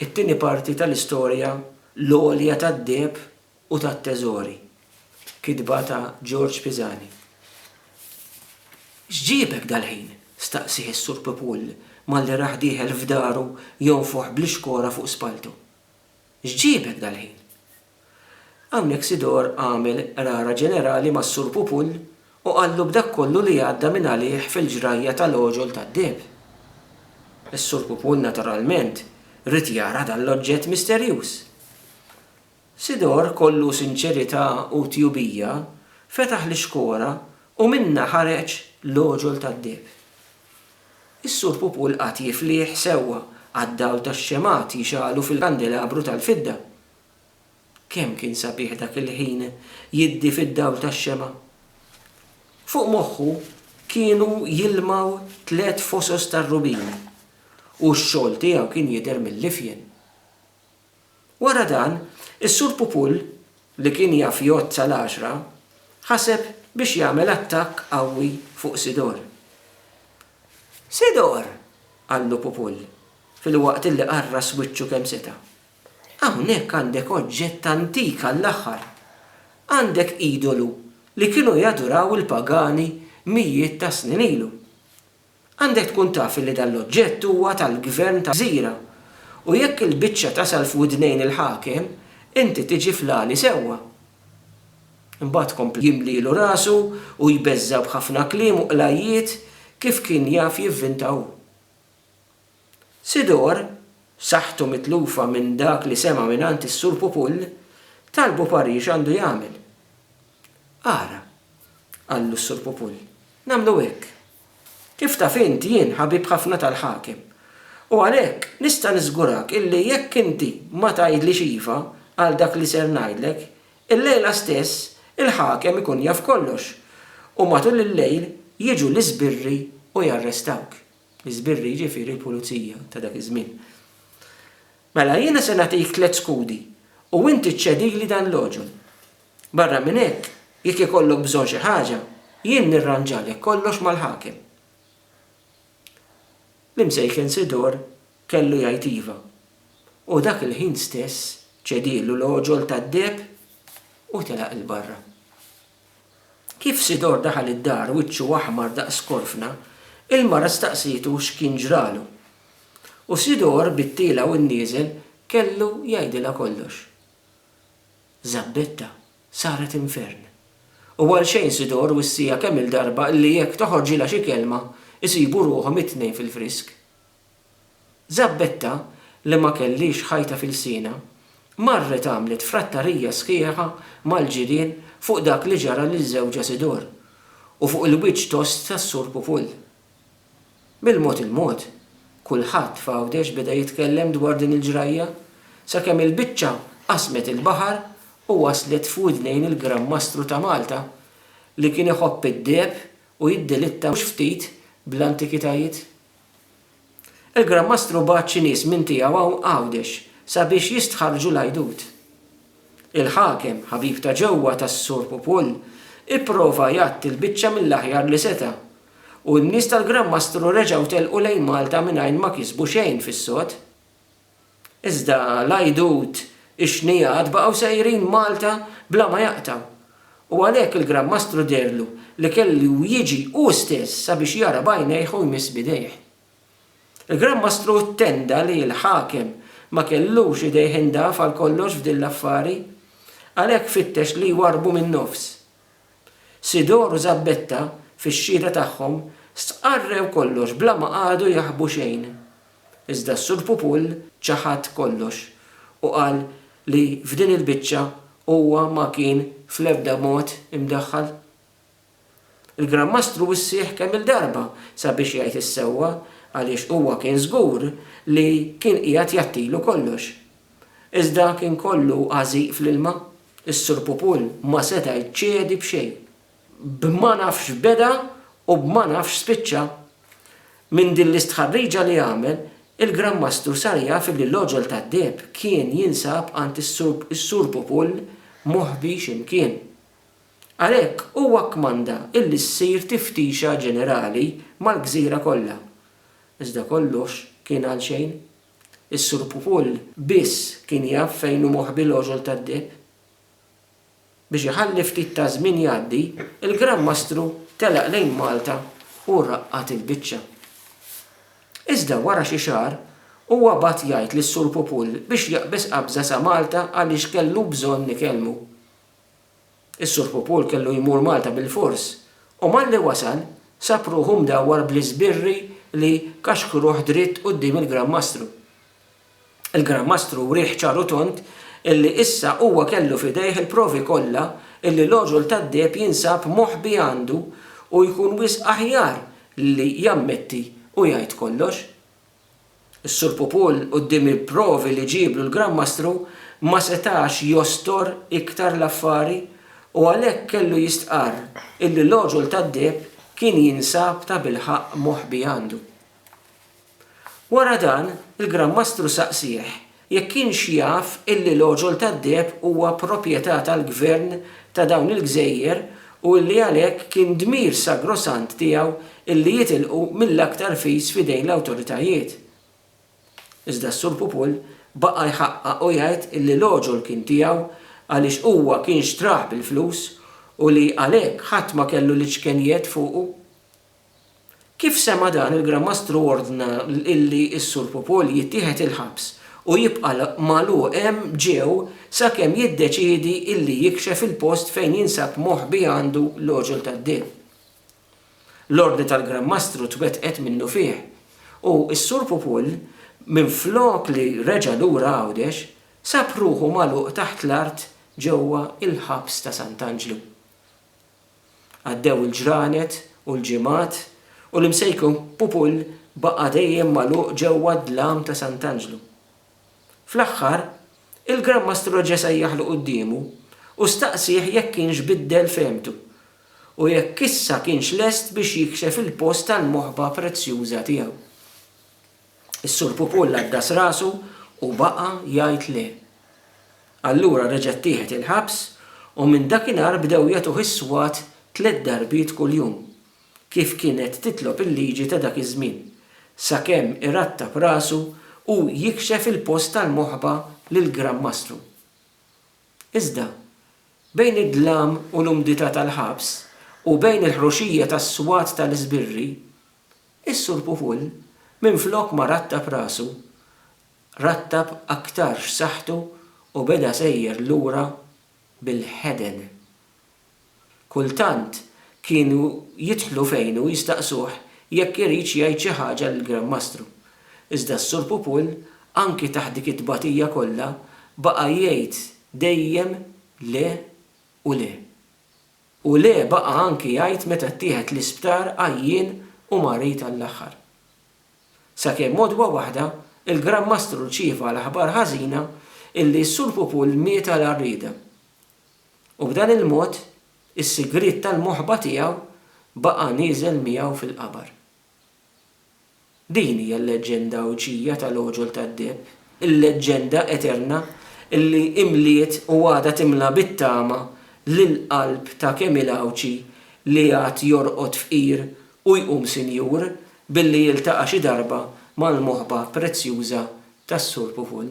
It-tieni parti tal-istorja l-għolja tad-deheb u tat-teżori. Kitba ta' George Pisani. X'ġiebek dal-ħin? staqsieh is-Sur Pepul malli rah dieħel f'daru jonfoħ bl-ixkora fuq spalltu. X'ġiebek dal-ħin? Hawnhekk Sidor għamel qrara ġenerali mas-Sur Pupull u qallu b'dak kollu li għadda minn għalih fil-ġrajja tal-għoġol tad-deheb. Is-Sur Pupull naturalment ried jara dan l-oġġett misterjuż. Sidor kollu sinċerità u tjubija fetaħ l-ixkora u minnha ħareġ l-għoġol tad-deheb. Is-Sur Pupul qagħad jiflieh sewwa għad-dawl tax-xemgħat jixgħalu fil-kandelabru tal-fidda. Kemm kien sabiħ dak il-ħin jiddi fid-dawl tax-xemgħa! Fuq moħħu kienu jilmgħu tliet fosos tar-rubin u x-xogħol tiegħu kien jidher mill-ifjen. Wara dan, is-Sur Pupul, li kien jaf jgħodd sal-għaxra, ħaseb biex jagħmel attakk qawwi fuq Sidor. Sidor! qallu Pupul, filwaqt li qarras wiċċu kemm seta'. Hawnhekk għandek oġġett antik għall-aħħar. Għandek idolu li kienu jaduraw il-pagani mijiet ta' snin ilu. Għandek tkun taf li dan l-oġġett huwa tal-gvern ta' gżira u jekk il-biċċa tasal f'widnejn il-ħakem, inti tiġi fl-għali sewwa. Imbagħad kompla jimlielu rasu u jbeżża' b'ħafna kliem u qlajjiet kif kien jaf jivvinta hu. Sidor, saħħtu mitlufa minn dak li sema' mingħand is-Sur Pupull, talbu parir x'għandu jagħmel. Ara, qallu s-Sur Pupull, nagħmlu hekk. Kif taf int jien ħabib ħafna tal-Ħakem u għalhekk nista' niżgurak illi jekk inti ma tgħidlix iva għal dak li ser ngħidlek, illejla stess il-Ħakem ikun jaf kollox u matul il-lejl jiġu l-iżbirri u jarrestawk. L-iżbirri jiġifieri l-pulizija ta' dak iż-żmien. Mela jiena se nagħtik tliet skudi u inti ċċedili dan l-għoġol. Barra minn hekk, jekk ikollok bżonn xi ħaġa, jien nirranġalek kollox mal-ħakem. L-imsejken Sidor kellu jgħid iva, u dak il-ħin stess ċedielu l-għoġol tad-deheb u telaq 'il barra. Kif Sidor daħal id-dar wiċċu aħmar daqs korfna, il-mara staqsietu x'kien ġralu. U Sidor bit-tiela u n-nieżel kellu jgħidilha kollox. Żabbetta saret infern. U għal xejn Sidor wissieha kemm-il darba illi jekk toħorġilha xi kelma, isibu ruħhom it-tnejn fil-frisk. Żabbetta, li ma kellhiex ħajta f'ilsienha, marret għamlet frattarija sħiħa mal-ġirien fuq dak li ġara lil żewġha Sidor u fuq il-wiċċ tost tas-Sur Pupul. Bil-mod il-mod, kulħadd f'Għawdex beda jitkellem dwar din il-ġrajja, sakemm il-biċċa qasmet il-baħar u waslet f'widnejn il-Gran Mastru ta' Malta li kien iħobb id-deheb u jiddelitta mhux ftit bl-antikitajiet. Il-Gran Mastru bagħat xi nies minn tiegħu hawn Għawdex sabiex jistħarrġu l-għajdut. Il-ħakem, ħabib ta' ġewwa tas-Sur Pupul, ipprova jgħatti l-biċċa mill-aħjar li seta', u n-nies tal-Gran Mastru reġgħu telqu lejn Malta mingħajr ma kisbu xejn fis-sod. Iżda l-għajdut, ix-xnigħat baqgħu sejrin Malta bla ma jaqtgħu. U għalhekk il-Gran Mastru deherlu li kellu jiġi hu stess sabiex jara b'għajnejh u jmiss b'idejh. Il-Gran Mastru ttenda li l-ħakem ma kellux idejh indaf għal kollox f'din l-affari. Għalhekk fittex li jwarrbu min-nofs. Sidor u Żabbetta, fix-xhieda tagħhom, stqarrew kollox bla ma qagħdu jaħbu xejn. Iżda s-Sur Pupul ċaħad kollox u qal li f'din il-biċċa huwa ma kien fl-ebda mod imdaħħal. Il-Gran Mastru wissieħ kemm-il darba sabiex jgħid is-sewwa għaliex huwa kien żgur li kien qiegħed jgħattilu kollox. Iżda kien kollu għażiq fl-ilma. Is-Sur Pupul ma seta' jċedi b'xejn. B'ma nafx beda u b'ma nafx spiċċa. Minn din l-istħarriġa li għamel, il-Gran Mastru sar jaf li l-għoġol tad-deheb kien jinsab għand is-Sur Pupul moħbi xi mkien. Għalhekk huwa kkmanda illi ssir tiftixa ġenerali mal-gżira kollha. Iżda kollox kien għalxejn. Is-Sur Pupull biss kien jaf fejn hu moħbi l-għoġol tad-deheb. Biex iħalli ftit taż-żmien jgħaddi, il-Gran Mastru telaq lejn Malta u raqqad il-biċċa. Iżda wara xi xahar, huwa bagħat jgħid lis-Sur Pupull biex jaqbeż qabża sa Malta għaliex kellu bżonn ikellmu. Is-Sur Pupul kellu jmur Malta bilfors u malli wasal sab ruħu mdawwar bl-iżbirri li kaxkruh dritt quddiem il-Gran Mastru. Il-Gran Mastru wrieh ċar u tond illi issa huwa kellu f'idejh il-provi kollha illi l-għoġol tad-deheb jinsab moħbi għandu u jkun wisq aħjar li jammetti u jgħid kollox. Is-Sur Pupul, quddiem il-provi li ġieblu l-Gran Mastru, ma setax jostor iktar l-affari u għalhekk kellu jistqarr illi l-għoġol tad-deheb kien jinsab tabilħaqq moħbi għandu. Wara dan, il-Gran Mastru saqsieh Jekk kienx jaf illi l-għoġol tad-deheb huwa proprjetà tal-gvern ta' dawn il-gżejjer u illi għalhekk kien dmir sagrosant tiegħu illi jitilqu mill-aktar fis f'idejn l-awtoritajiet. Iżda s-Sur Pupul baqa' jħaqqaq u jgħid illi l-għoġol kien tiegħu għaliex huwa kien xtrah bil-flus u li għalhekk ħadd ma kellu l-iċkenjiet fuqu. Kif sema' dan il-Gran Mastru ordna illi s-Sur Pupol jittieħed il-ħabs u jibqa' magħluq hemm ġew sakemm jiddeċiedi illi jikxef il-post fejn jinsab moħbi għandu l-għoġol tad-deheb. L-ordni tal-Gran Mastru twettqet minnufih u s-Sur Pupol minflok li reġa' lura Għawdex sab ruħu magħluq taħt l-art ġewwa il-ħabs ta' Sant'Anġlu. Għaddew il-ġranet u l-ġimgħat u l-Imsejkun Pupull baqa' dejjem magħluq ġewwa d-dlam ta' Sant'Anġlu. Fl-aħħar, il-Gran Mastru reġa' sejjaħlu quddiemu u staqsieh jekk kienx biddel fehmtu u jekk issa kienx lest biex jikxef il-post tal-moħba prezzjuża tiegħu. Is-Sur Pupul għaddas rasu u baqa' jgħid le. Allura reġa' ttieħed il-ħabs u minn dakinhar bdew jagħtuh is-swat tliet darbiet kuljum, kif kienet titlob il-liġi ta' dak iż-żmien, sakemm irattab rasu u jikxef il-post tal-moħba lill-Gran Mastru. Iżda, bejn id-dlam u l-umdità tal-ħabs u bejn il-ħruxija tas-swat tal-iżbirri, Is-Sur Pupull, minflok ma rattab rasu, rattab aktarx saħħtu u beda sejjer lura bil-ħeden. Kultant kienu jidħlu fejnu jistaqsuh jekk iridx jgħid xi ħaġa lill-Gran Mastru, iżda s-Sur Pupull anki taħt dik it-tbatija kollha baqa' jgħid dejjem le u le. U le baqa' anki jgħid meta ttieħed l-isptar għajjien u marid għall-aħħar. Sakemm għodwa waħda, il-Gran Mastru rċieva l-aħbar ħażina illi s-Sur Pupul miet għal għarrieda. U b'dan il-mod, is-sigriet tal-moħba tiegħu baqa' nieżel miegħu fil-qabar. Din hija l-leġġenda Għawdxija tal-Għoġol tad-Deheb, il-leġġenda eterna li imliet u għadha timla bit-tama lill-qalb ta' kemm hi l-Għawdxi li għad jorqod fqir u jqum sinjur billi jiltaqa' xi darba mal-moħba prezzjuża tas-Sur Puvun.